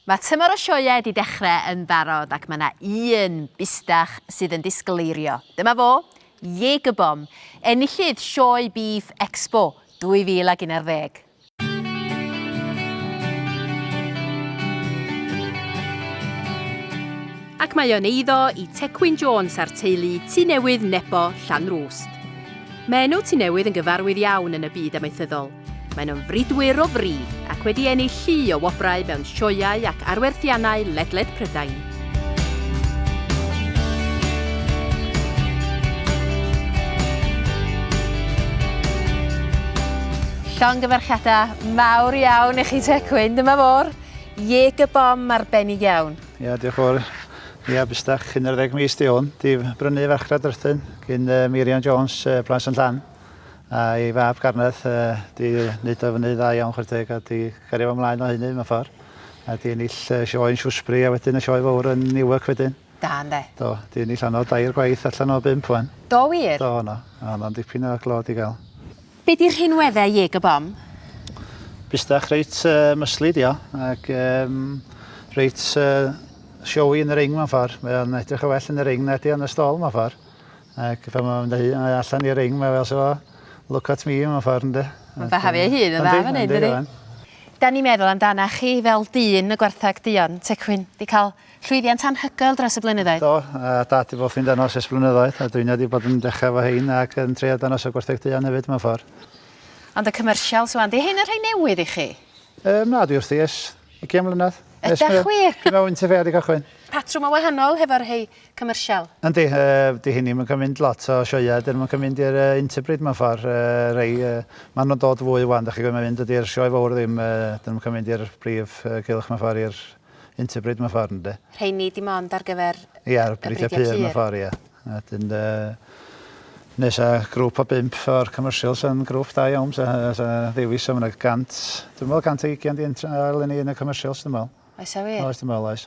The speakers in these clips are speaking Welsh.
Mae tymor o sioeau 'di dechrau yn barod ac mae 'na un bistach sydd yn disgl eirio. Dyma fo, Jaeger Bomb, enillydd Sioe Beef Expo 2011. Ac mae o'n eiddo i Tecwyn Jones a'r teulu Tŷ Newydd Nebo, Llanrwst. Mae enw Tŷ Newydd yn gyfarwydd iawn yn y byd amaethyddol. Maen nhw'n fridwyr o fri ac wedi ennill llu o wobrau mewn sioeau ac arwerthiannau ledled Prydain. Llongyfarchiadau mawr iawn i chi Te Cwyn, dyma fo'r Jaeger Bomb arbennig iawn. Ia, diolch yn fawr. Ia, busdach, 11 mis 'di hwn. 'Di brynu farchnad Rhythun gin Meirion Jones, Plas yn Llan. A ei fab Garneth yy 'di neud o fyny dda iawn chware teg a 'di cario fo mlaen o hynny mewn ffor. A 'di ennill yy sioe yn Shrewsbury a wedyn y sioe fowr yn Newark wedyn. Da ynde? Do, 'di ennill honno dair gwaith allan o bump ŵan. Do wir? Do, o' 'no. O' honno'n dipyn o glod i ga'l. Be' 'di rhinwedde Jig y Bom? Busdach reit yy muscly 'di o ac yym reit yy showy yn y ring mewn ffor. Mae o'n edrych yn well yn y ring na 'di o yn y stôl mewn ffor. Ac pan mae'n mynd â hi allan i ring mae fel so look at me mewn ffordd ynde? Mae'n behafio ei hun yn dda fan 'yn dydi? Dan ni'n meddwl amdanach chi fel dyn y gwartheg duon, Tecwyn. Di cael llwyddiant anhygoel dros y blynyddoedd. Do, a Dad di bwffi'n danos ers blynyddoedd a dwi'n wedi bod yn dechrau efo hein ac yn trio danos y gwartheg duon hefyd mewn ffordd. Ond y commercials ŵan, di hein yn rhai newydd i chi? Yym na, dwi wrthi ers ugian mlynedd. Ydach wir? Dwi mewn Winter Fair di cychwyn. Patrwm yn wahanol hefo'r rhei commercial. Yndi, dydi hyn ddim yn cael mynd lot o sioeau, dyn nhw'm yn cael mynd i'r Interbreed mewn ffordd, rhei, ma' nhw'n dod fwy wan, dach chi'n gwybod, mae'n mynd, dydi'r sioe fawr ddim, dyn nhw'm yn cael mynd i'r brif gylch mewn ffordd, i'r Interbreed mewn ffordd, ynde. Rheini dim ond ar gyfer y Ia, y Breidiau Pur mewn ffordd, ia. A 'dyn neis a grŵp o bump o'r commercial sa'n grŵp da iawn, sa sa ddewis o ma' 'na gant, dwi'n meddwl 120 'di entro eleni yn y commercials dwi'n meddwl. Oes e wir? Oes dwi'n meddwl oes.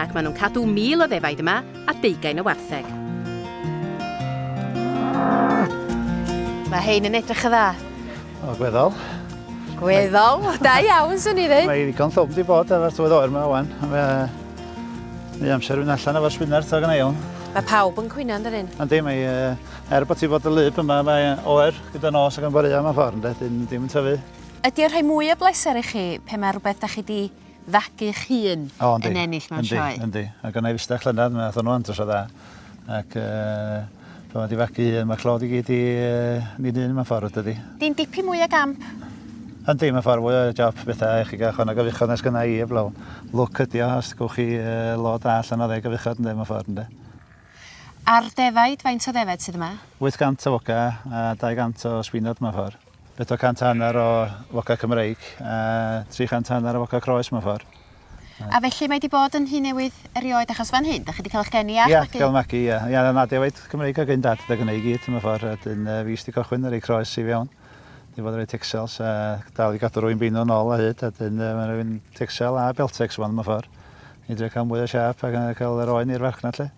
Ac maen nhw'n cadw mil o ddefaid yma a deugain o wartheg. Mae hein yn edrych yn dda. O, gweddol. Gweddol, da iawn, swn i ddweud. Mae ddigon llwm di bod ar tywydd oer yma wan. Mae Mae amser yn allan efo'r swynert o gynna iawn. Mae pawb yn cwyno yn dydyn. Yndi, mae uh, er bod ti fod y lyb yma, mae oer gyda nos ac yn borea mewn ffordd, ynddi, dim yn tyfu. Ydy o rhoi mwy o bleser i chi pe mae rhywbeth da chi di fagu'ch hun o, yn ennill mewn sioe. Yndi, yndi. A gynna i fista llynedd, mae athon nhw andros o dda. Ac uh, Pan mae di fagu un, mae clod i gyd i uh, ni'n un mae'n ffordd, dydy. Di'n dipyn mwy o gamp. Yndi, mae'n ffordd mwy o job bethau i chi gael chwan o gyfuchod nes gyna i, eblaw. Lwc ydi o, os gwch chi uh, lod a allan o ddeg gyfuchod, ynddi, mae'n ffordd, ynddi. A'r defaid, faint o ddefaid sydd yma? 800 o foca a 200 o sbinod mae'n ffordd. Bedwar cant a hanner o foca Cymreig a tri chant a hanner o foca Croes mewn ffordd. A felly mae 'di bod yn nhŷ newydd erioed achos fan hyn 'da chi 'di cael eich geni a'ch magu? Ia, cael magu ia. Ia, o'dd 'na defaid Cymreig ag un dad 'da gynna i gyd mewn ffordd a 'dyn yy fi sy 'di cychwyn y rei Croes i fewn. Dwi fod yn rei Texels a dal i gadw rwy'n beinw nôl a hyd a 'dyn yy ma' rywun Texel a Beltex wan mewn ffordd. I drio cael mwy o siâp a cael yr oen i'r farchnad 'lly.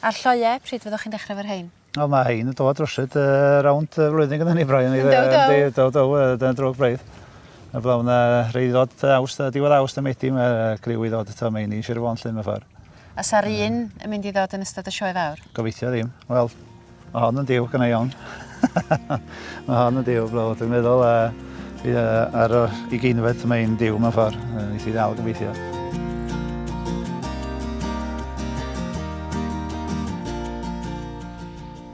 A'r lloeau, pryd fyddwch chi'n dechrau 'fo rhein? O mae hein yn dod rwsut uh, rownd y flwyddyn gyda ni Brian. Yn daw daw. Yn daw daw, dyna drwg braidd. A blaw na rei ddod awst, diwedd awst am edi, mae criw i ddod eto meini Sir Fôn llun mewn ffordd. A sa'r un yn mynd i ddod yn ystod y sioe fawr? Gobeithio ddim. Wel, mae hon yn diw gynnau iawn. Mae hon yn diw blawd, dwi'n meddwl, a bydd e ar y ugeinfed mae'n diw mewn ffordd, nes i ddal gobeithio.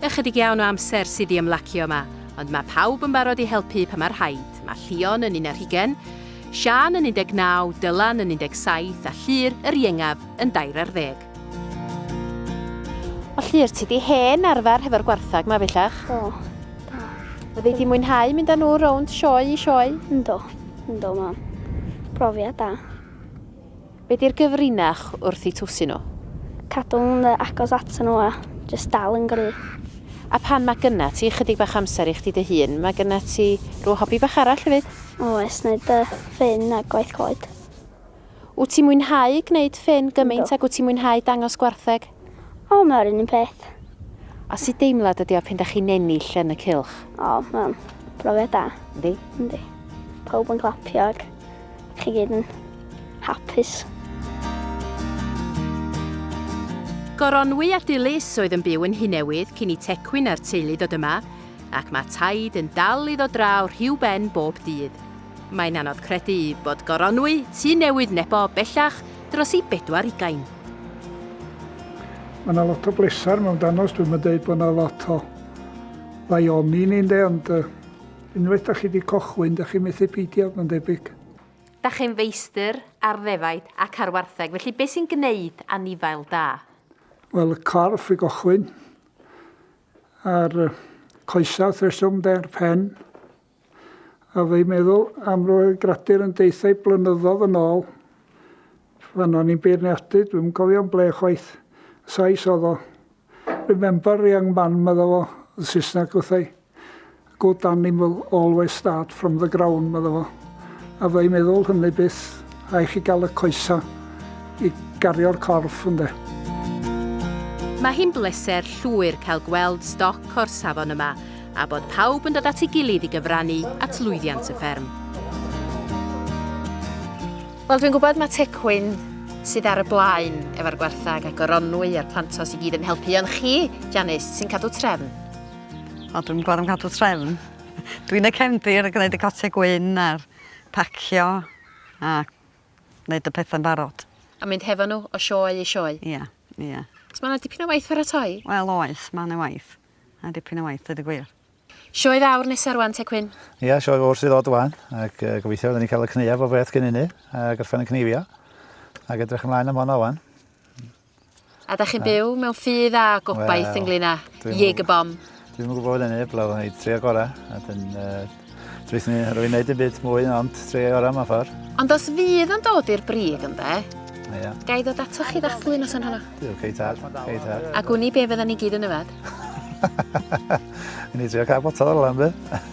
Ychydig iawn o amser sydd i ymlacio yma, ond mae pawb yn barod i helpu pan mae rhaid. Mae Llion yn un ar hugen, Sian yn 19, Dylan yn 17 a Llyr, yr iengaf, yn dair ar ddeg. Felly, yr ti di hen arfer hefo'r gwarthag ma bellach? Do, do. Fyddi di mwynhau mynd â nhw rownd sioe i sioe? Ynddo, ynddo mam. Profiad da. Be di'r gyfrinach wrth i twsi nhw? Cadw'n agos at nhw a jyst dal yn gry. A pan mae gynna ti chydig bach amser i chdi dy hun, mae gynna ti rhyw hobi bach arall hefyd? Oes, neud ffyn a gwaith coed. Wt ti'n mwynhau gwneud ffyn gymaint ag wt ti'n mwynhau dangos gwartheg? O, mae'r un peth. A sut deimlad ydi o pan dach chi'n ennill yn y cylch? O, mae'n brofiad da. Yndi? Yndi. Pawb yn clapio ac chi gyd yn hapus. Goronwy a Dilys oedd yn byw yn Nhŷ Newydd cyn i Tecwyn a'r teulu ddod yma, ac mae Taid yn dal i ddod draw rhiw ben bob dydd. Mae'n anodd credu bod goronwy Tŷ Newydd Nebo bellach dros ei bedwar ugain. Mae yna lot o bleser mewn danos, dwi'n yn dweud bod yna lot o ddaioni ni ynde, ond uh, unwaith da chi wedi cochwyn, da chi methu peidio, mae'n debyg. Da chi'n feistr ar ddefaid ac ar wartheg, felly beth sy'n gwneud anifail da? Wel, y corff i gochwyn, a'r coesau wrth reswm, de'r pen, A fy meddwl am roedd gradur yn deithau blynyddodd yn ôl fan o'n i'n beirniadu, dwi'm cofio'n ble chwaith, Sais oedd o. Remember young man medda fo, yn Saesneg wrthai. Good animal always start from the ground medda fo. A fy meddwl hynny byth. Rhaid i chi gael y coesau i gario'r corff, ynde? Mae hi'n bleser llwyr cael gweld stoc o'r safon yma a bod pawb yn dod at ei gilydd i gyfrannu at lwyddiant y fferm. Wel, dwi'n gwybod mae Tecwyn sydd ar y blaen efo'r gwarthag a goronwy a'r plantos i gyd yn helpu, ond chi, Janice, sy'n cadw trefn? O, dwi'n gwybod am cadw trefn. Dwi'n y cefndir yn gwneud y gotiau gwyn a'r pacio A neud y pethau'n barod. A mynd hefo nhw o sioe i sioe. Ia, ia. So mae 'na dipyn o waith pharatoi? Wel oes, mae 'na waith. Mae 'na dipyn o waith, dweud y gwir. Sioe fawr nesa rwan te Cwyn? Ia, sioe fawr sydd ddod rwan, ac uh, gobeithio fydden ni'n cael y cneuaf o beth cyn hynny, a gorffen yn cneifio. Ac edrych ymlaen am hwnna rwan. A da chi'n byw mewn ffydd a gobaith ynglyn â Jaeger Bomb? Dwi ddim yn gwybod hynny, blaw yn ei trio gorau. A dyn, uh, dwi'n ni rwy'n gwneud y byd mwy, ond trio gorau mewn ffordd. Ond os fydd yn dod i'r brig ynde, Ia. Ga i ddod ato chi ddathlu nos yn hwnna? Dwi'n cei tad, cei tad. A gwni be fydda ni gyd yn yfed? Ni trio cael botol o'r lan, be?